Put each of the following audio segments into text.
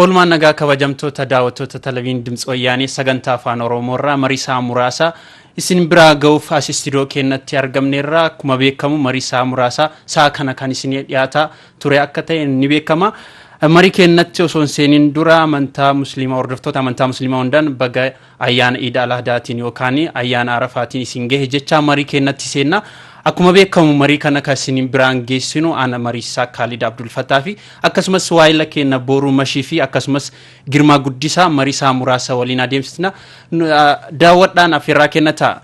Oolmaan nagaa kabajamtoota daawwattoota televiin Dimtsi Wayyaanee sagantaa afaan Oromoo irraa mariisaa muraasa isin biraa ga'uuf as istiidiyoo keenyatti argamneerra akkuma beekamu mariisaa muraasa sa'a kana kan isin dhiyaata ture akka ta'e ni beekama. Marii keenyatti osoo hin seeniin dura amantaa musliimaa hordoftoota amantaa musliimaa hundaan baga Ayyaana Iid Al-Ahdaatiin yookaan Ayyaana Arafaatiin isin gahe jechaa marii keennatti seenna. Akkuma beekamu marii kana kan isin biraan geessinu ana mariisaa Kaalid Abdulfataa fi akkasumas waayila keenna Booruu Mashii fi akkasumas Girmaa Guddisaa mariisaa muraasa waliin adeemsisna. Daawwadhaan affeerraa keenna ta'a.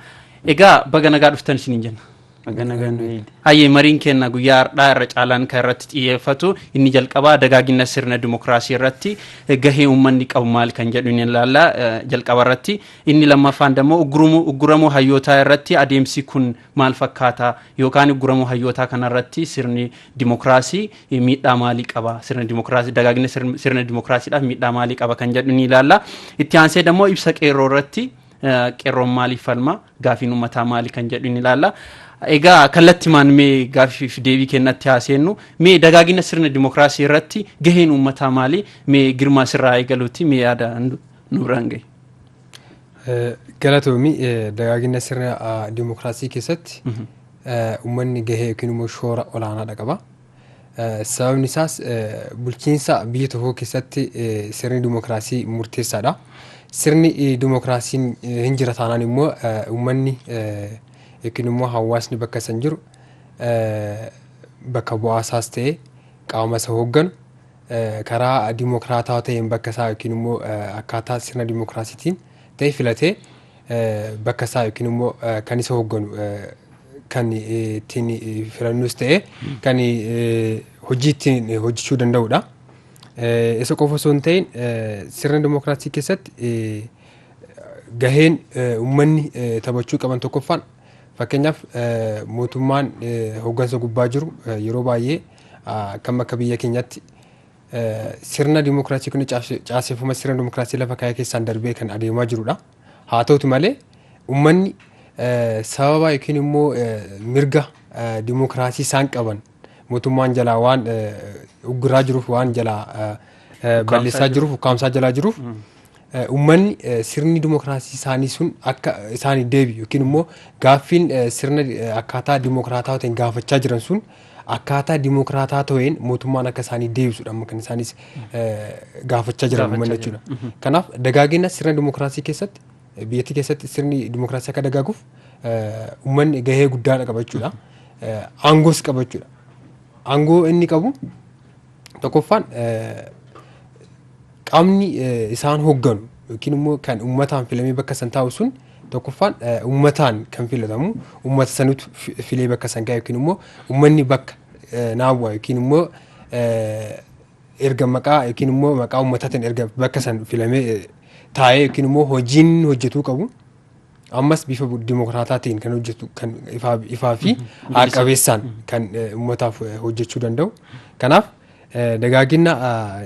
Egaa baga nagaa dhuftan isiniin jenna. Naga nagaa nu eegi. Hayyee mariin keenya guyyaa har'aa irra caalaan kan irratti xiyyeeffatu inni jalqabaa dagaagina sirna dimokiraasii irratti gahee uummanni qabu maal kan jedhu ni ilaalla jalqaba irratti inni lammaffaan dammoo uggurumuu ugguramuu hayyootaa irratti adeemsi kun maal fakkaata yookaan ugguramuu hayyootaa kana irratti sirni dimokiraasii miidhaa maalii qaba sirna dimokiraasii dagaagina sirna dimokiraasiidhaaf miidhaa maalii qaba kan jedhu ni ilaalla itti aansee dammoo ibsa qeerroo irratti Qeerroon maaliif falma? Gaafiin uummataa maali kan jedhu ni ilaalla. Egaa kallattimaan mee gaaffiif deebii kennatti haa seennu. Mee dagaagina sirna dimokiraasii irratti gaheen uummataa maali? Mee girmaa sirraa eegaluuti mee yaada nu biraan gahi. Galatoomi dagaagina sirna dimokiraasii keessatti uummanni gahee yookiin immoo shoora olaanaadha qaba. Sababni isaas bulchiinsa biyya tokkoo keessatti sirni dimokiraasii murteessaadha. Sirni dimokiraasiin hin jira taanaan immoo uummanni yookiin immoo hawaasni bakka san jiru bakka bu'aa isaas ta'ee qaama isa hoogganu karaa dimokiraataa ta'een bakka isaa yookiin immoo akkaataa sirna dimokiraasiitiin ta'e filatee bakka isaa yookiin immoo kan isa hoogganu kan ittiin filannus ta'e kan hojii ittiin hojjechuu danda'udha. Isa qofa osoo hin ta'in sirna dimookiraasii keessatti gaheen uummanni taphachuu qaban tokkoffaan fakkeenyaaf mootummaan hooggansa gubbaa jiru yeroo baay'ee kan akka biyya keenyatti Sirna dimokiraasii kun caaseffama sirna dimokiraasii lafa kaa'ee keessaan darbee kan adeemaa jirudha. Haa ta'utu malee uummanni sababa yookiin immoo mirga dimokiraasii isaan qaban mootummaan jalaa waan ugguraa jiruuf waan jalaa balleessaa jiruuf ukkaamsaa jalaa jiruuf Ummanni sirni dimokiraasii isaanii sun akka isaaniif deebi'u yookiin immoo gaaffiin sirna akkaataa dimokiraataa ta'een gaafachaa jiran sun akkaataa dimokiraataa ta'een mootummaan akka isaanii deebisudha amma kan isaanis gaafachaa jiran Gaafachaa ummanni jiran. jechuudha. Kanaaf dagaagina sirna dimokiraasii keessatti biyyattii keessatti sirni dimokiraasii akka dagaaguuf ummanni gahee guddaadha qaba jechuudha. Aangoos qaba jechuudha. Aangoo inni qabu Tokkoffaan qaamni isaan hoogganu yookiin immoo kan uummataan filamee bakka san taa'u sun tokkoffaan uummataan kan filatamu uummata sanutu filee bakka san ga'a yookiin immoo uummanni bakka naawwa yookiin immoo erga maqaa yookiin immoo maqaa uummataatiin erga bakka san filamee taa'ee yookiin immoo hojiin hojjetuu qabu ammas bifa bu- dimokiraataa ta'een kan hojjetu kan ifaa, ifaa fi haaqabeessaan kan eh, ummataaf eh, hojjechuu danda'u kanaaf eh, dagaaginna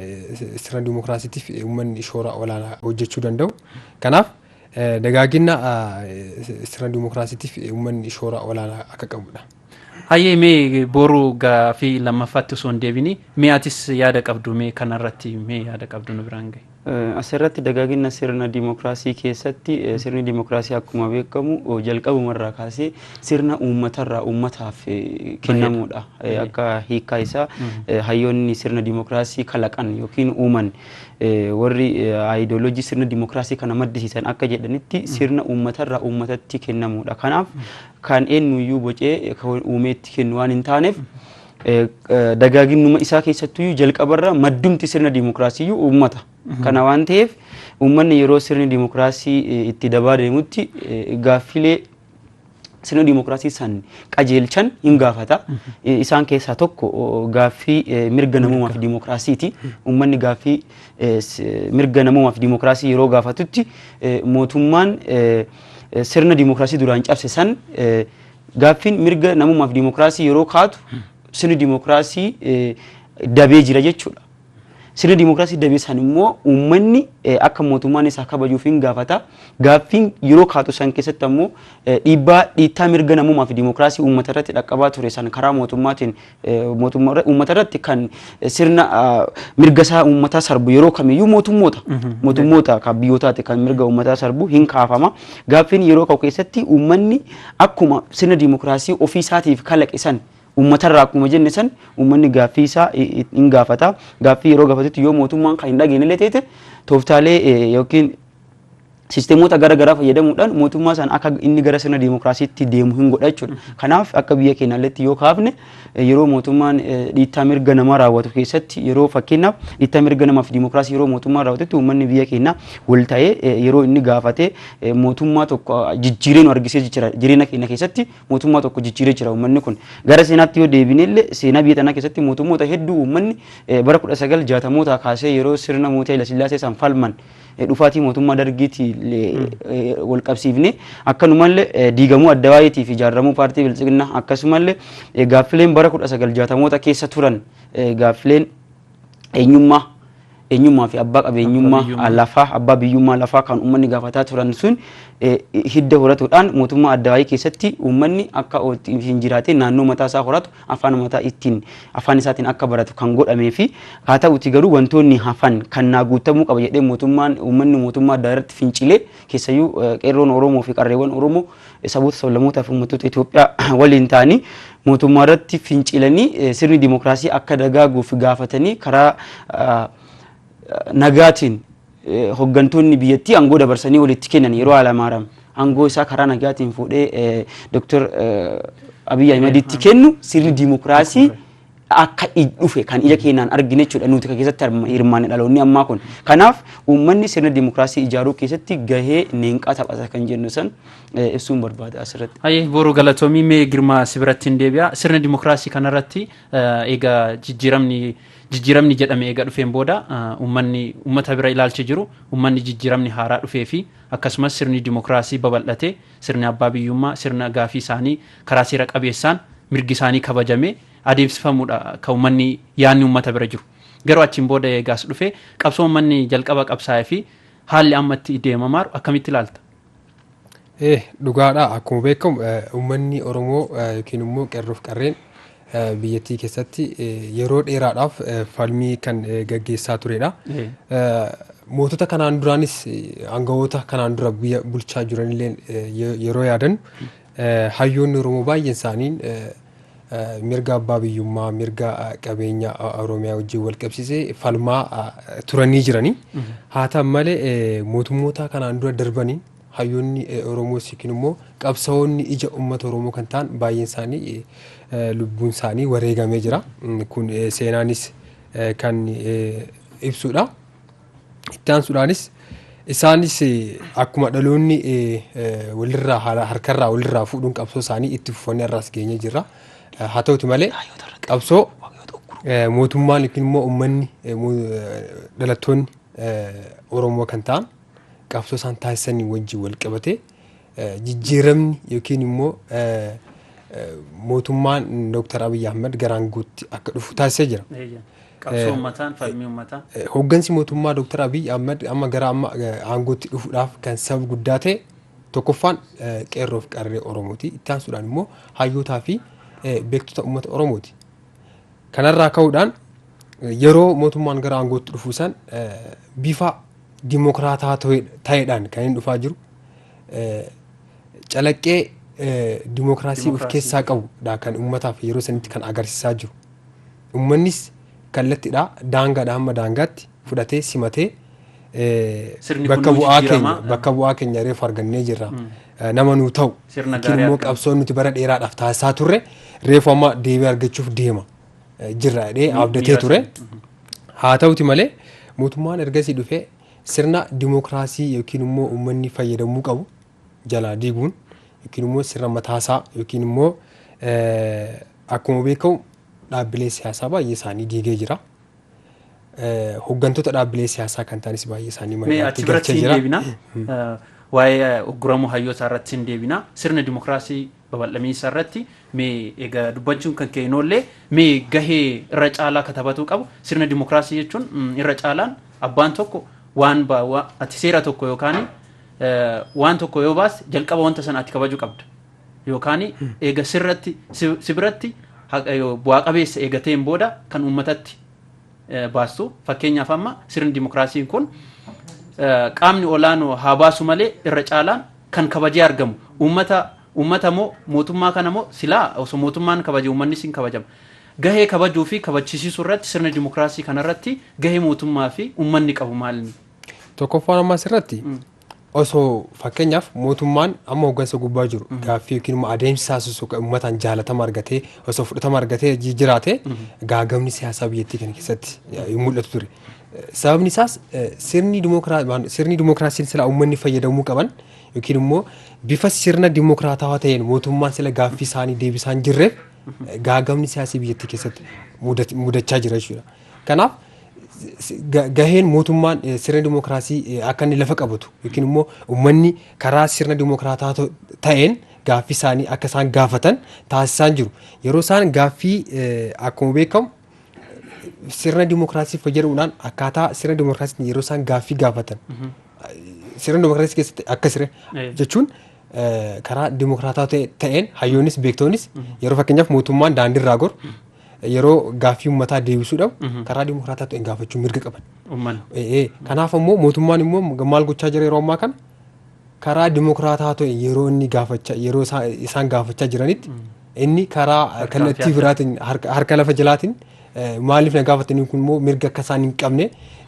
eh, sirna dimokiraasiitiif eh, ummanni shoora olaanaa hojjechuu danda'u kanaaf eh, dagaaginna eh, sirna dimokiraasiitiif eh, ummanni shoora olaanaa akka qabudha. Hayyee mee boru gaafii lammaffaatti osoo hin deebini mee atis yaada qabdu mee kanarratti mee yaada qabdu nu biraan gahi. Asirratti dagaagina sirna dimokiraasii keessatti sirni dimokiraasii akkuma beekamu jalqabumarraa kaasee sirna uummatarraa uummataaf kennamuudha. Akka hiikaa isaa hayyoonni sirna dimokiraasii kalaqan yookiin uuman warri ayidooloojii sirna dimokiraasii kana maddisiisan akka jedhanitti sirna uummatarraa uummatatti kennamuudha. Kanaaf kan eennu iyyuu bocee kan uumee itti kennu waan hin taaneef dagaaginnuma isaa keessattu iyyuu jalqabarra maddumti sirna diimokiraasii iyyuu uummata. Kana waan ta'eef uummanni yeroo sirni diimokiraasii itti dabaa deemutti gaaffilee sirna diimokiraasii san qajeelchan hin gaafata. Isaan keessaa tokko gaaffii mirga namoomaa fi diimokiraasiiti. Uummanni gaaffii mirga namoomaa fi diimokiraasii yeroo gaafatutti mootummaan sirna dimokiraasii duraan cabse san gaaffiin mirga namummaaf dimokiraasii yeroo kaatu sirni dimokiraasii dabee jira jechuudha. Sirni dimokiraasii dabee san immoo uummanni akka mootummaan isaa kabajuuf hin gaafata. Gaaffiin yeroo kaatu san keessatti ammoo dhiibbaa dhiittaa mirga namummaa fi dimokiraasii uummata irratti dhaqqabaa ture san karaa mootummaatiin Uummata irratti kan sirna mirga isaa uummataa sarbu yeroo kamiyyuu mootummoota. Mootummoota kan biyyootaati kan mirga uummataa sarbu hin kaafama. Gaaffiin yeroo ka'u keessatti uummanni akkuma sirna diimokiraasii ofii isaatiif kalaqe san uummatarraa akkuma jenne san uummanni gaaffii isaa hin gaafata. Gaaffii yeroo gaafatutti yoo mootummaan kan hin dhageenye illee ta'e tooftaalee yookiin sisteemoota gara garaa fayyadamuudhaan mootummaa sana akka inni gara sirna diimokiraasiitti deemu hin godha jechuudha. Kanaaf akka biyya keenyaalleetti yoo kaafne yeroo mootummaan dhiittaa mirga namaa raawwatu keessatti yeroo fakkeenyaaf dhiittaa mirga namaa fi diimokiraasii yeroo mootummaan raawwatutti uummanni biyya keenyaa wal ta'ee yeroo inni gaafate mootummaa tokko jijjiiree nu argisee jira jireenya keenya keessatti mootummaa tokko jijjiiree jira uummanni kun gara seenaatti yoo deebine illee seenaa biyya tanaa keessatti mootummoota hedduu uummanni bara 1960mootaa kaasee yeroo sirna mootii Hayilasillaasee san falman Dhufaatii mootummaa Dargiitiin walqabsiifnee akkanumallee diigamuu Addawaayiitii fi ijaarramuu paartii Biltsiginnaa akkasumallee gaaffileen bara 1960moota keessa turan gaaffileen eenyummaa eenyummaa fi abbaa qabeenyummaa lafaa abbaa biyyummaa lafaa kan uummanni gaafataa turan sun hidda horatuudhaan mootummaa Addawaayii keessatti uummanni akka hin jiraatee naannoo mataa isaa horatu afaan umataa ittiin afaan isaatiin akka baratu kan godhamee fi haa ta'uti garuu wantoonni hafan kan naa guutamuu qaba jedhee mootummaan uummanni mootummaa addaa irratti fincilee keessayyuu qeerroon Oromoo fi qarreewwan Oromoo saboota sablammootaa fi uummattoota Itoophiyaa waliin ta'anii mootummaa irratti fincilanii sirni dimookiraasii akka dagaaguuf gaafatanii karaa nagaatiin hoggantoonni biyyattii aangoo dabarsanii walitti kennan yeroo Haalamaaram aangoo isaa karaa nagaatiin fuudhee Dr. Abiy Ahimaditti kennu sirni diimokiraasii akka dhufe kan ija keenyaan argine jechuudha nuti kan keessatti hirmaanne dhaloonni ammaa kun. Kanaaf uummanni sirna diimokiraasii ijaaruu keessatti gahee neenqaa taphata kan jennu san ibsuun barbaada asirratti. Hayyee booruu galatoomii mee girmaa si biratti hin deebi'a. Sirna diimokiraasii kanarratti egaa jijjiiramni Jijjiiramni jedhame eega dhufeen booda uummanni uummata bira ilaalchi jiru uummanni jijjiiramni haaraa dhufee fi akkasumas sirni dimokraasii babal'atee sirni abbaa biyyummaa sirna gaafii isaanii karaa seera qabeessaan mirgi isaanii kabajamee adeemsifamuudha kan uummanni yaadni uummata bira jiru. Garuu achiin booda eega as dhufee qabsoo uummanni jalqaba qabsaa'ee fi haalli amma itti deemamaaru akkamitti ilaalta? Eh, dhugaadha akkuma beekamu eh, uummanni Oromoo eh, yookiin immoo qerroof qarreen eh, biyyattii keessatti eh, yeroo dheeraadhaaf eh, falmii kan eh, gaggeessaa turedha. Eh. Eh, Mootota kanaan duraanis eh, aangawoota kanaan dura biyya bulchaa jiranillee eh, ye- yeroo yaadannu eh, hayyoonni Oromoo baay'een isaanii eh, mirga abbaa biyyummaa, mirga qabeenya Oromiyaa wajjin wal qabsiisee falmaa turanii jiranii. Haa ta'an malee mootummoota kanaan dura darbaniin hayyoonni Oromoos yookiin immoo qabsaa'onni ija uummata Oromoo kan ta'an baay'een isaanii lubbuun isaanii wareegamee jira. Kun seenaanis kan ibsudha. Itti aansuudhaanis isaanis eh, akkuma dhaloonni eh, eh, walirraa hara- harkarraa walirraa fuudhuun qabsoo isaanii itti fufanii har'aas geenye jirra. Eh, Haa ta'uti malee qabsoo eh, mootummaan yookiin immoo uummanni eh, mo- eh, dhalattoonni eh, Oromoo kan ta'an qabsoo isaan taasisanii wajjin wal qabatee jijjiiramni yookiin immoo mootummaan Dooktar Abiyyi Ahmad gara aangootti akka dhufu taasisee jira. Qabsoo uummataan falmii uummataa. Hooggansi mootummaa Dooktar Abiyyi Ahmad amma gara amma aangootti dhufuudhaaf kan sababa guddaa ta'e tokkoffaan qeerroo fi qarree Oromooti. Itti aansuudhaan immoo hayyootaa fi beektota uummata Oromooti. Kanarraa ka'uudhaan yeroo mootummaan gara aangootti dhufu san bifa dimokiraataa ta'eedhaan kan inni dhufaa jiru. calaqqee dimookiraasii of keessaa qabu dha kan ummataaf yeroo sanitti kan agarsiisaa jiru. Ummannis kallattiidha daangaadha hamma daangaatti fudhatee simatee bakka bu'aa keenya bakka bu'aa keenya reefu argannee jirra. Nama nuu ta'u yookiin immoo qabsoon nuti bara dheeraadhaaf taasisaa turre reefu amma deebii argachuuf deema jirra jedhee abdatee ture. Haa ta'uti malee mootummaan ergasii dhufee Sirna dimokraasii yookiin immoo ummanni fayyadamuu qabu jalaa diiguun yookiin immoo sirna mataa isaa yookiin immoo akkuma beekamu dhaabbilee siyaasaa baay'ee isaanii diigee jira. Hoggantoota dhaabbilee siyaasaa kan ta'anis baay'ee isaanii Mee manatti achi biratti galchee hin jira. deebina. Waa'ee ugguramuu hayyootaa irratti hin deebina. Sirna dimokraasii Babal'amiinsa irratti mee egaa dubbachuun kan kee hin oollee mee gahee irra caalaa ka tabatuu qabu sirna dimokiraasii jechuun irra caalaan abbaan tokko waan ati seera tokko yookaan waan tokko yoo baas jalqaba wanta sana ati kabaju qabda yookaan eega sirratti si biratti bu'aa qabeessa eegateen booda kan uummatatti baastu fakkeenyaaf amma sirni dimokiraasiin kun qaamni olaanoo haa baasu malee irra caalaan kan kabajee argamu uummata uummata moo mootummaa kana moo silaa osoo mootummaan kabaje uummannis hin kabajama gahee kabajuu fi kabachisiisuu irratti sirna dimokiraasii kana irratti gahee mootummaa fi uummanni qabu maalni? Tokkoffaan amma asirratti osoo fakkeenyaaf mootummaan amma hoggansa gubbaa jiru gaaffii yookiin immoo adeemsi taasisu uummataan jaalatama argatee osoo fudhatama argatee jiraate gaagamni siyaasaa biyyattii kana keessatti hin mul'atu ture. Sababni isaas sirni dimookiraasiin sila uummanni fayyadamuu qaban yookiin immoo bifa sirna dimookiraatawaa ta'een mootummaan sila gaaffii isaanii deebisaa hin jirreef gaagamni siyaasii biyyattii keessatti mudachaa jira jechuudha. Kanaaf gaheen mootummaan sirna dimookiraasii akka inni lafa qabatu yookiin immoo uummanni karaa sirna dimookiraataa ta'een gaaffii isaanii akka isaan gaafatan taasisaan jiru. Yeroo isaan gaaffii akkuma beekamu sirna dimookiraasii fayyadamuudhaan akkaataa sirna dimookiraasiitiin yeroo isaan gaaffii gaafatan sirna dimookiraasii keessatti akka siree Eh. jechuun eh, karaa dimookiraataa ta'e- ta'een hayyoonnis beektoonnis yeroo fakkeenyaaf mootummaan daandii irraa goru yeroo gaaffii uummataa deebisuu dhabu karaa dimookiraataa ta'een gaafachuu mirga qaban. Uummanni. Eh, eh. Kanaaf ammoo mootummaan immoo maal gochaa jira yeroo ammaa kana Karaa dimokiraataa ta'een yeroo inni gaafachaa yeroo isaa- isaan gaafachaa jiranitti inni karaa Harka kallattii siyaasa. biraatiin harka harka lafa jalaatiin eh, maaliif na gaafatanii kun immoo mirga akka isaan hin qabne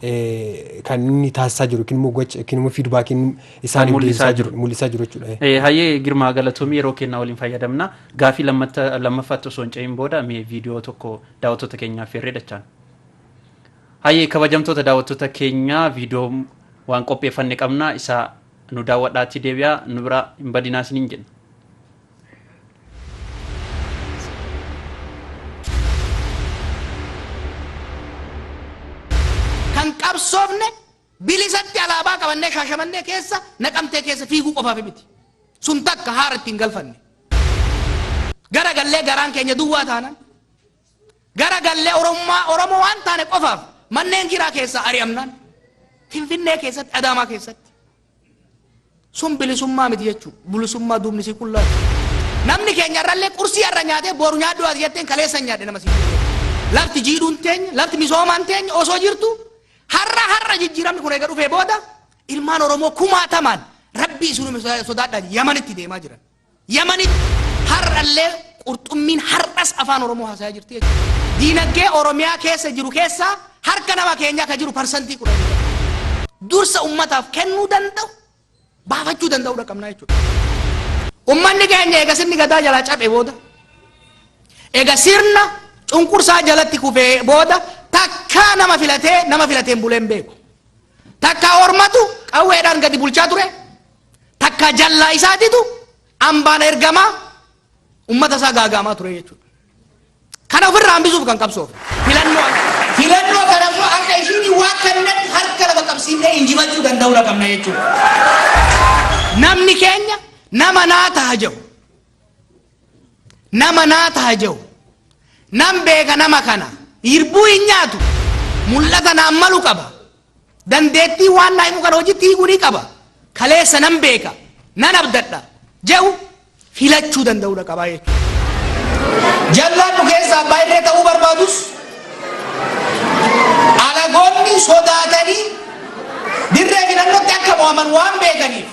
eh, kan inni taasisaa jiru yookiin immoo gocha yookiin immoo fiidbaakiin isaaniif mul'isaa deebisaa jiru. jiru mul'isaa jiru jechuudha. Eh, Hayyee Girmaa Galatoomii yeroo kennaa waliin fayyadamna. Gaafii lammatta- lammaffaatti osoo hin ce'in booda mee viidiyoo tokko daawwattoota keenyaaf feerree dachaan. Hayyee kabajamtoota daawwattoota keenya viidiyoo waan qopheeffanne qabna isa nu daawwadhaatii deebi'aa nu bira hin badinaa isiniin jenna. kan qabsoofne bilisatti alaabaa qabannee shaashamannee keessa naqamtee keessa fiiguu qofaaf miti. Sun takka haara ittiin galfanne. Gara gallee garaan keenya duwwaa taanan Gara gallee Oromummaa Oromoo waan taane qofaaf manneen jiraa keessaa ari'amnaan Finfinnee keessatti Adaamaa keessatti sun bilisummaa miti jechuu bilisummaa duubni sii qullaa namni keenya irrallee qursii irra nyaatee boru nyaadhu ati jetteen kaleessa hin nyaadhe nama sii lafti jiidhuun teenya lafti misoomaan teenya osoo jirtu har'a har'a jijjiiramni kun eega dhufee booda ilmaan Oromoo kumaatamaan rabbii isinuma sodaadhaan yamanitti deemaa jiran. Yamanitti har'allee qurxummiin har'as Afaan Oromoo haasa'aa jirti jechuudha. Diinagdee Oromiyaa keessa jiru keessaa harka nama keenyaa ka jiru parsantii 10 qofa. Dursa ummataaf kennuu danda'u, baafachuu danda'uudha qabnaa jechuudha. Ummanni keenya eega sirni gadaa jalaa caphe booda, eega sirna cunqursaa jalatti kufee booda takkaa nama filatee nama filateen bulee hin beeku. Takkaa ormatu qawweedhaan gadi bulchaa ture, takka jallaa isaatitu ambaan ergamaa ummata isaa gaagaamaa ture jechuudha. Kana ofirraa hambisuuf kan qabsoof filannoo filannoo kana immoo akka ishiin waan kannatti harka lafa qabsiifnee injifachuu danda'uu dha qabna jechuudha. Namni keenya nama naa taha jedhu nama naa taha jedhu nan beeka nama kana hirbuu hin nyaatu mul'ata naan malu qaba. Dandeettii waan naa himu kana hojitti hiikuu ni qaba. Kaleessa nan beeka, nan abdadha jedhu filachuu danda'uudha qabaa jechuudha. Jallaadhu keessa abbaa irree ta'uu barbaadus alagoonni sodaatanii dirree filannootti akka mo'aman waan beekaniif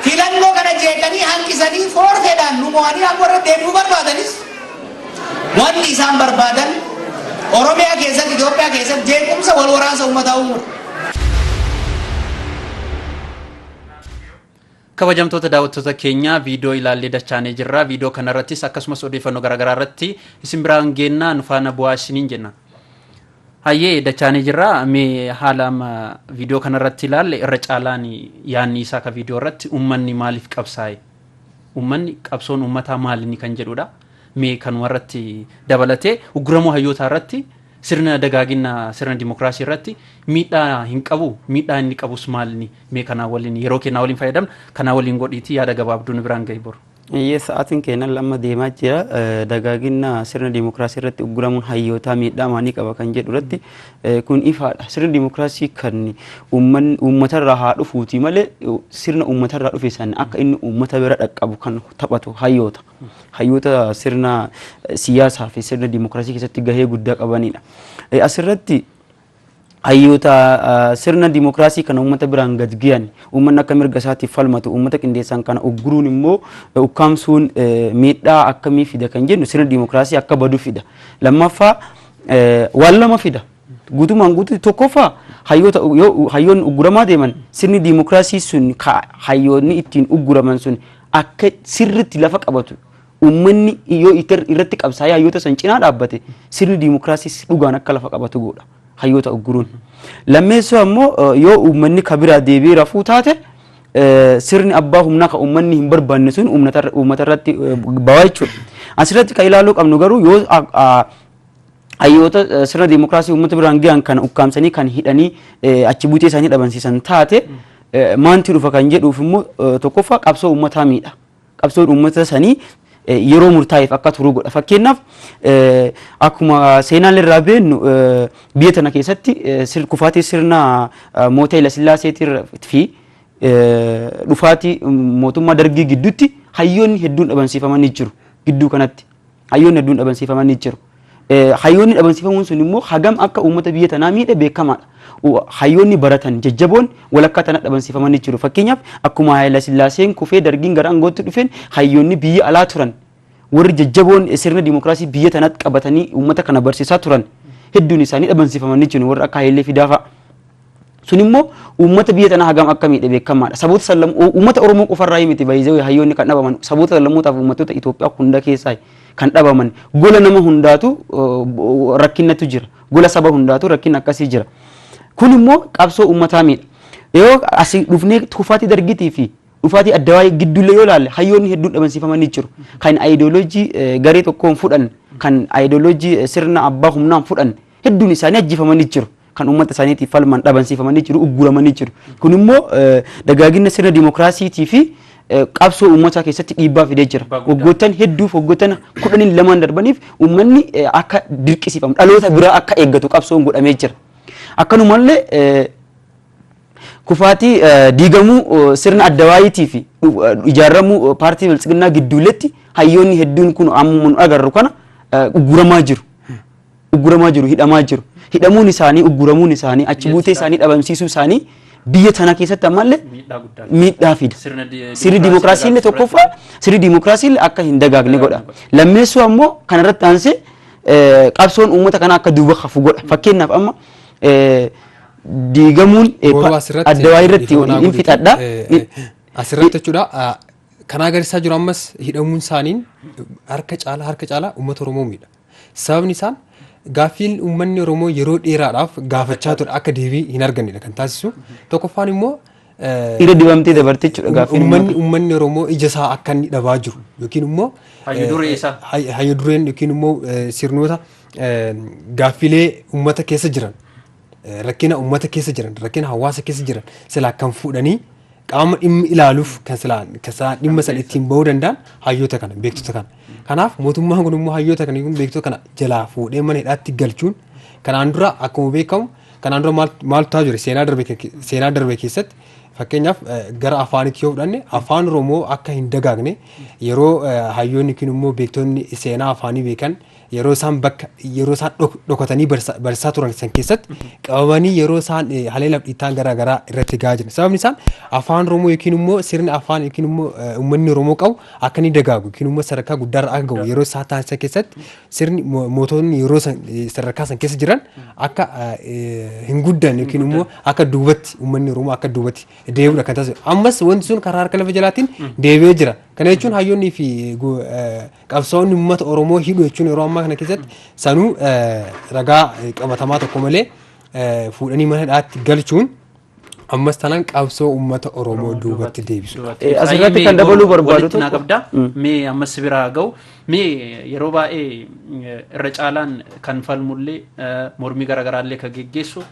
Filannoo kana jeeqanii hanqisanii foorfeedhaan nu mo'anii aangoo irra deebi'uu barbaadanis wanti isaan barbaadan Oromiyaa keessatti, Itoophiyaa keessatti jeequmsa wal waraansa uummataa uumuudha. Kabajamtoota daawwattoota keenyaa viidiyoo ilaallee dachaanee jirra. Viidiyoo kanarrattis akkasumas odeeffannoo garaagaraa irratti isin biraan geennaa nu faana bu'aa isiniin jenna. Hayyee dachaanii jirra mee haala amma viidiyoo kanarratti ilaalle irra caalaan yaanni isaa ka viidiyoo irratti ummanni maaliif qabsaa'e ummanni qabsoon ummataa maalinni kan jedhudha mee kanuma irratti dabalatee ugguramoo hayyootaa irratti sirna dagaaginna sirna dimokiraasii irratti miidhaa hin qabu miidhaa inni qabus maalinni mee kanaa waliin yeroo kennaa waliin fayyadamna kanaa waliin godhiitii yaada gabaabduu nu biraan gahi boru. Eeyyee, sa'aatiin keenya amma deemaa jira. Dagaagina sirna dimokiraasii irratti ugguramuun hayyootaa miidhaa maalii qaba kan jedhu irratti kun ifaadha. Sirni dimokiraasii kan uummatarraa haa dhufuuti malee sirna uummatarraa dhufe sana akka inni uummata bira dhaqqabu kan taphatu hayyoota. Hayyoota sirna siyaasaa fi sirna dimokiraasii keessatti gahee guddaa qabanidha. Asirratti hayyoota sirna dimokiraasii kana uummata biraan gad giyan uummanni akka mirga isaatiif falmatu uummata qindeessan kana ugguruun immoo ukkaamsuun miidhaa akkamii fida kan jennu sirna dimokiraasii akka badu fida. Lammaffaa waan lama fida. Guutumaan guutuutti tokkoffaa hayyoota hayyoonni ugguramaa deeman sirni dimokiraasii sun hayyoonni ittiin ugguraman sun akka sirritti lafa qabatu Uummanni yoo itti- irratti qabsaa'ee hayyoota san cinaa dhaabbate sirni diimokiraasiis dhugaan akka lafa qabatu godha hayyoota ugguruun. Lammeessoo ammoo eh, yoo uummanni ka biraa deebi'ee rafuu taate eh, sirni abbaa humnaa ka uummanni hin barbaanne sun uummatarra- uummatarratti eh, bawaa jechuudha. Asirratti kan ilaaluu qabnu garuu yoo a- a- hayyoota eh, sirna diimokiraasii uummata biraan gahan kan ukkaamsanii kan hidhanii eh, achi buutee isaanii dhabamsiisan taate eh, maanti dhufa kan jedhuuf immoo eh, tokkoffaa qabsoo uummataa miidha. qabsoon uummata sanii yeroo murtaa'eef akka turuu godha. Fakkeenyaaf akkuma seenaan irraa beennu biyya tana keessatti kufaatii sirna moota Hayila Sillaaseetii fi dhufaatii mootummaa dargii gidduutti hayyoonni hedduun dhabamsiifamanii jiru gidduu kanatti. hayyoonni hedduun dhabamsiifamanii jiru. Hayyoonni dhabamsiifamuun sun immoo hagam akka uummata biyya tanaa miidhe beekamaadha. Hayyoonni baratan jajjaboon walakkaa tana dhabamsiifamanii jiru. Fakkeenyaaf akkuma Haayila Sillaaseen kufee dargiin gara aangootti dhufeen hayyoonni biyya alaa turan warri jajjaboon sirna dimokiraasii biyya tanatti qabatanii uummata kana barsiisaa turan hedduun isaanii dhabamsiifamanii jiru warra akka Hayilee Fidaa fa'a. Sun immoo uummata biyya tanaa hagam akka miidhe beekamaadha. Saboota sallam uummata Oromoo qofarraa miti baay'ee hayyoonni kan dhabaman saboota sallamootaaf uummattoota Itoophiyaa hunda keessaa kan dhabaman gola nama hundaatu rakkinnatu jira. Gola saba hundaatu rakkinna akkasii jira. Kun immoo qabsoo uummataa miidha. Yoo asii dhufnee tuufaatii dargitii fi dhufaatii adda waa'ee gidduullee yoo ilaalle hayyoonni hedduun dhabansiifamanii jiru. Kan ayidooloojii garee tokkoon fudhan kan ayidooloojii sirna abbaa humnaan fudhan hedduun isaanii ajjeefamanii jiru. kan uummata isaaniitiif falman dhabansiifamanii jiru, ugguramanii jiru. Kun immoo dagaagina sirna dimookiraasiitii fi qabsoo uummataa keessatti dhiibbaa fidee jira. Waggoottan hedduuf waggoottan kudhaniin lamaan darbaniif uummanni akka dirqisiifamu dhaloota biraa akka eeggatu qabsoon godhamee jira. Akkanumallee kufaatii diigamuu sirna adda waayiitii fi ijaaramuu paartii biltsiginnaa gidduuletti hayyoonni hedduun kun amma nu agarru kana ugguramaa jiru. ugguramaa jiru, hidhamaa jiru. Hidhamuun isaanii, ugguramuun isaanii, achi buutee isaanii dhabamsiisuu isaanii biyya tanaa keessatti ammallee Miidhaa guddaa. miidhaa fida. Sirna di- Sirni dimookiraasii illee dagaagsuuf tokkoffaa sirni dimookiraasii illee akka hin dagaagne godha. Lammeessuu ammoo kana irratti aansee eh, qabsoon uummata kanaa akka duuba hafu godha. Fakkeenyaaf amma eh, diigamuun eh, Boruu pa- asirratti addawaa irratti ifa manaa hin godhu fixadha. jechuudha. Eh, eh, Asirratti jechuudha. ah, Kan agarsiisaa jiru ammas hidhamuun isaaniin harka caalaa harka caalaa uummata Oromoo miidha. Sababni isaan gaaffiin uummanni Oromoo yeroo dheeraadhaaf gaafachaa ture akka deebii hin argannedha kan taasisu. Tokkoffaan immoo eh, Irra dibamtee dabarte jechuudha gaaffiin uummanni uummata. uummanni Oromoo ija isaa akka inni dhabaa jiru yookiin immoo Hayyu duree eh, isaa. hay- hayyu dureen yookiin immoo eh, sirnoota eh, gaaffilee uummata keessa jiran eh, rakkina uummata keessa jiran rakkina hawaasa keessa jiran silaa kan fuudhanii qaama dhimmi ilaaluuf kan silaa kan silaa dhimma sana ittiin bahuu danda'an hayyoota kana beektota kana. Kanaaf mootummaan kun immoo hayyoota kana yookiin beektota kana jalaa fuudhee mana hidhaatti galchuun kanaan dura akkuma beekamu kanaan dura maal- maaltu ta'aa jira seenaa darbe ke- seenaa darbe keessatti fakkeenyaaf eh, gara afaanitti yoo fudhanne afaan oromoo akka hin dagaagne yeroo eh, hayyoonni yookiin immoo beektonni seenaa afaanii beekan yeroo isaan bakka yeroo isaan dhok- dhokatanii barsa- barsaa turan san keessatti qabamanii yeroo isaan eh, haleelaaf dhiittaan garaa garaa irratti gahaa jiran sababni isaan afaan oromoo yookiin immoo sirni afaan yookiin immoo eh, uummanni oromoo qabu akka inni dagaagu yookiin immoo sadarkaa guddaarra akka gahu yeroo isaa taasisan keessatti sirni mo- mootonni yeroo san eh, sadarkaa san keessa jiran akka eh, hin guddan yookiin immoo akka duubatti uummanni oromoo akka duubatti deebi'udha kan taasisu ammas wanti sun karaa harka lafa jalaatiin deebi'ee jira kana jechuun hayyoonnii fi eh, go- eh, qabsaa'onni uummata Oromoo hidhu jechuun yeroo ammaa kana keessatti sanuu ragaa qabatamaa tokko malee fuudhanii mana hidhaatti galchuun ammas tanaan qabsoo uummata Oromoo duubatti deebisu. Asirratti kan dabaluu barbaadu tokko. Naa qabda. Mee ammas si biraa ga'u. Mee yeroo baay'ee irra caalaan kan falmullee mormii garaagaraallee kan geggeessu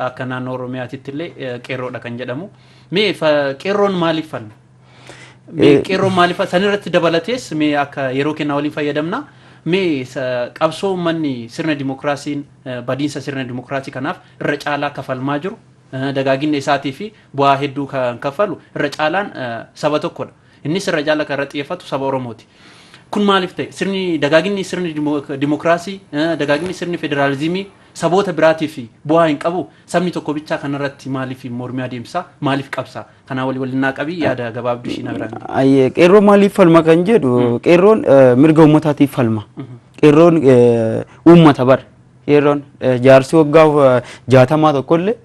akka naannoo Oromiyaatitti illee qeerroodha kan jedhamu. Mee qeerroon maaliif falma? Mee qeerroon maaliif sanirratti dabalatees mee akka yeroo kennaa waliin fayyadamna mee sa- qabsoo uummanni sirna dimokiraasiin eh, badiinsa sirna dimokiraasii kanaaf irra caalaa kafalmaa jiru eh, dagaaginna isaatii fi bu'aa hedduu kan kaffalu irra caalaan eh, saba tokkodha. Innis irra caalaa kan irra xiyyeeffatu saba Oromooti. Kun maaliif ta'e? Sirni dagaaginni sirni dimo- dimokiraasii, eh, dagaaginni sirni federaalizimii saboota biraatiif bu'aa hin qabu. Sabni tokko bichaa kanarratti maaliif mormii adeemsa? Maaliif qabsa? Kanaa wali waliin naa qabii yaada gabaabdu ishii na biraan gee. Ayyee qeerroon maaliif falma kan jedhu qeerroon eh, mirga uummataatiif falma. Qeerroon eh, uummata bar qeerroon eh, jaarsi waggaa eh, jaatamaa tokkollee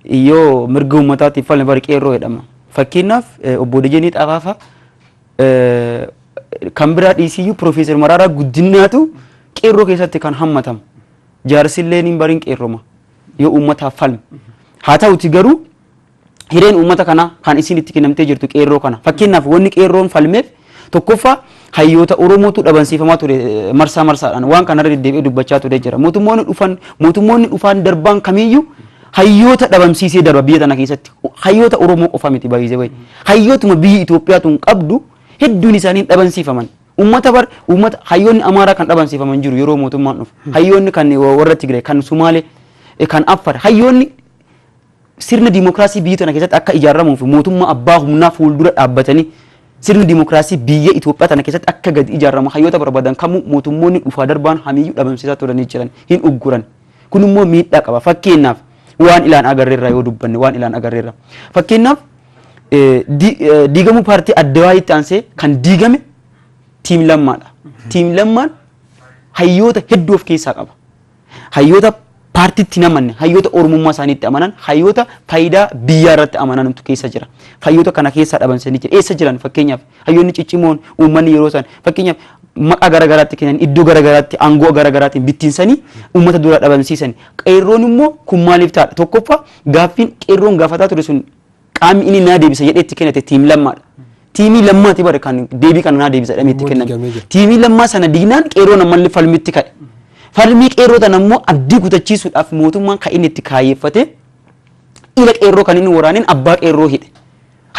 yoo mirga uummataatiif falme bar qeerroo jedhama. Fakkeenyaaf eh, obbo Dejenii Xafaafaa eh, kan biraa dhiisiyyuu Piroofeesar Maraaraa Guddinaatu qeerroo keessatti kan hammatamu. Jaarsillee niin bariin qeerroma yoo uummataaf falme. Haa ta'uti garuu hireen uummata kanaa kan isiin itti kennamtee jirtu qeerroo kana. Fakkeenyaaf wanni qeerroon falmeef tokkoffaa hayyoota Oromootu dhabansiifamaa ture eh, marsaa marsaadhaan waan kanarra deddeebi'ee dubbachaa ture jira. Mootummoonni dhufan mootummoonni dhufaan darbaan kamiyyuu hayyoota dhabamsiisee darba biyya tana keessatti. Hayyoota Oromoo qofa miti baay'isee wayi. Hayyootuma biyyi Itoophiyaa tun qabdu hedduun isaanii hin dhabansiifaman. Uummata bar uummata hayyoonni Amaaraa kan dhabansiifaman jiru yeroo mootummaan dhufu. Hayyoonni kan warra Tigray kan Sumaalee eh, kan Affar hayyoonni Sirna dimokraasii biyyi tana keessatti akka ijaarramuu fi mootummaa abbaa humnaa fuuldura dhaabbatanii sirni dimokraasii biyya Itoophiyaa tana keessatti akka gadi ijaarramu hayyoota barbaadan kamuu mootummoonni dhufaa darbaan hamiyyuu dhabamsiisaa turanii jiran, hin ugguran. Kun immoo miidhaa qaba. Fakkeenyaaf waan ilaan agarre irraa yoo dubbanne waan ilaan agarre irraa. Fakkeenyaaf diigamuu paartii Addawaayitti aansee kan diigame tiim lammaadha. Tiim lammaan hayyoota hedduu of keessaa qaba. Hayyoota paartiitti hin amanne, hayyoota Oromummaa isaaniitti amanan, hayyoota faayidaa biyyaa irratti amanantu keessa jira. Hayyoota kana keessaa dhabamsanii jira. Eessa jiran fakkeenyaaf hayyoonni ciccimoon uummanni yeroo san fakkeenyaaf maqaa gara garaatti kennan iddoo gara garaatti aangoo gara garaatiin bittinsanii uummata dura dhabamsiisan. Qeerroon immoo kun maaliif ta'a? Tokkoffaa gaaffiin qeerroon gaafataa ture sun Qaamni inni naa deebisa jedhee itti kennate tiim lammaadha. Tiimii lammaati bara kan deebii kana naa deebisa jedhamee itti Immoo diigamee kenname. jira. Tiimii lammaa sana diignaan qeerroon ammallee falmitti ka'e. Falmii qeerroo tana immoo abdii kutachiisuudhaaf mootummaan kan inni itti kaayyeffate ila qeerroo kan inni waraaneen abbaa qeerroo hidhe.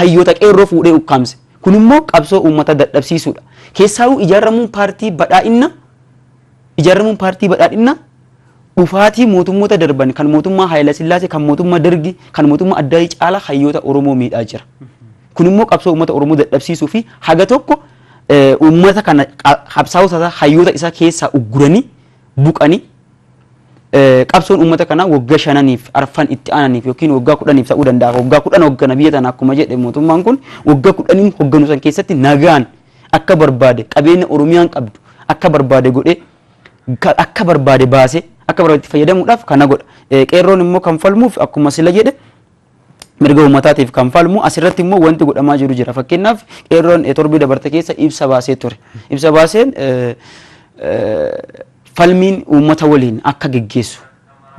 Hayyoota qeerroo fuudhee ukkaamse. Kun immoo qabsoo uummata dadhabsiisuudha. Keessaawuu ijaaramuun paartii badhaa'inna Ijaaramuun Paartii Badhaadhinnaa dhufaatii mootummoota darban kan mootummaa Haayilasillaasee, kan mootummaa Dargii, kan mootummaa Addaayii caalaa hayyoota Oromoo miidhaa jira. Kun immoo qabsoo uummata Oromoo dadhabsiisuu fi haga tokko uummata kana qabsaa'ota isaa, hayyoota isaa keessaa ugguranii, buqanii qabsoon uummata kanaa wagga shananiif arfan itti aananiif yookiin waggaa kudhaniif ta'uu danda'a. Waggaa kudhan hoggana biyya tana akkuma jedhe mootummaan kun waggaa kudhaniin hogganu san keessatti nagaan akka barbaade qabeenya Oromiyaan qabdu akka barbaade godhee ka- akka barbaade baasee akka barbaade itti fayyadamuudhaaf kana godha. Eh, Qeerroon immoo kan falmuuf akkuma sila jedhe mirga uummataatiif kan falmu asirratti immoo wanti godhamaa jiru jira fakkeenyaaf qeerroon eh, torbee dabarte keessa ibsa baasee ture ibsa baaseen eh, eh, falmiin uummata waliin akka geggeessu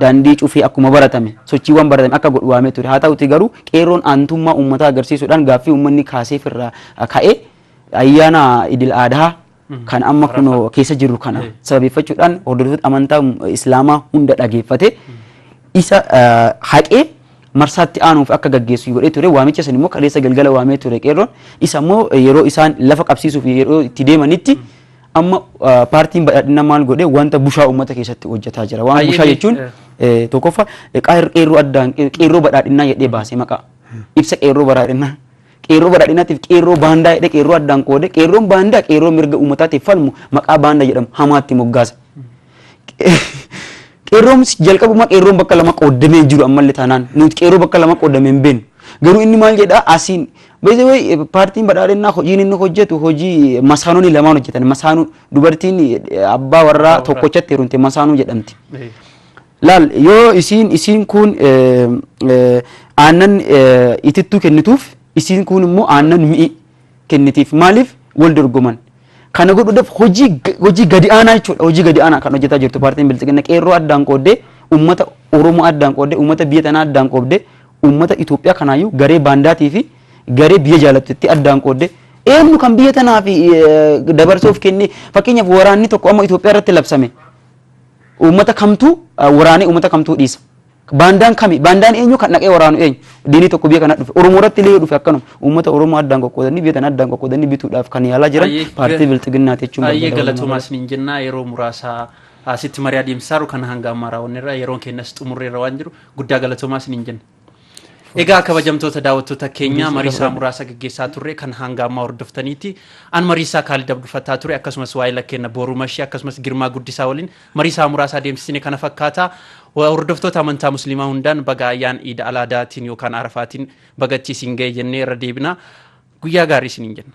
daandii cufee akkuma baratame sochiiwwan baratame akka godhu waamee ture. Haa ta'uutii garuu qeerroon aantummaa uummataa agarsiisuudhaan gaaffii uummanni kaaseef irraa ka'ee ayyaana idil aadhaa kan amma kunoo keessa jirru kana sababeeffachuudhaan hordoftoota amantaa islaamaa hunda dhageeffate isa haqee marsaatti aanuuf akka gaggeessu godhee ture waamicha san immoo kaleessa galgala waamee ture qeerroon isa immoo yeroo isaan lafa qabsiisuuf yeroo itti deemanitti Amma paartiin badhaadhina maal godhe wanta bushaa uummata keessatti hojjetaa jira. Waan bushaa jechuun tokkoffa qeerroo addaan qeerroo badhaadhinaa jedhee baasee maqaa ibsa qeerroo badhaadhinaa. Qeerroo badhaadhinaatiif qeerroo baandaa jedhee qeerroo addaan qoode qeerroon baandaa qeerroo mirga uummataatiif falmu maqaa baandaa jedhamu hamaatti moggaasa. Qeerroonis jalqabuma qeerroon bakka lama qooddamee hin jiru ammallee taanaan nuti qeerroo bakka lama qooddamee hin beeknu. Garuu inni maal jedhaa asiin beekte wayi paartiin badhaadhinnaa hojiin inni hojjetu hojii masaanonni lamaan hojjetan masaanuu dubartiin abbaa warraa tokkochatti heerumte masaanuu jedhamti. Laal yoo isiin isiin kun aannan itittuu kennituuf isiin kun immoo aannan mi'i. kennitiif. Maaliif wal dorgoman? Kana godhuudhaaf hojii hojii gadi aanaa jechuudha. Hojii gadi aanaa kan hojjetaa jirtu paartiin bilxiginna qeerroo addaan qooddee uummata Oromoo addaan qooddee uummata biyya tanaa addaan qoobdee uummata Itoophiyaa kanaayyuu garee baandaatii fi garee biyya jaalattutti addaan qooddee eenyu kan biyya tanaaf dabarsuuf kennee fakkeenyaaf waraanni tokko amma Itoophiyaa irratti labsame uummata kamtuu waraanee uummata kamtuu dhiisa. Baandaan kami? Baandaan eenyu? Kan dhaqee waraanu eenyu? Diinii tokko biyya kana dhufe. Oromoo irratti illee yoo dhufe akkanuma. Uummata Oromoo addaan qoqqoodanii biyya tana addaan qoqqoodanii bituudhaaf kan yaalaa jiran Ayyee, paartii ga- bilxiginnaati jechuun Ayyee barbaada. galatoomaa isiniin jennaa yeroo muraasaa asitti marii adeemsisaa jiru kana hanga ammaa raawwanneerra yeroon keenyas xumurreerra waan jiru guddaa galatoomaa isiniin jenna. Egaa kabajamtoota daawwattoota keenyaa mariisaa muraasa gaggeessaa turre kan hanga ammaa hordoftaniiti. An mariisaa kaalidab dhufataa ture akkasumas waa'ee lakkeenya booruu mashii akkasumas girmaa guddisaa waliin Marii sa'a muraasa adeemsisine kana fakkaata. Wa- Hordoftoota amantaa musliimaa hundaan baga ayyaan iida alaadaatiin yookaan arafaatiin bagachi isin ga'e jennee irra deebina. Guyyaa gaarii isiniin jenna.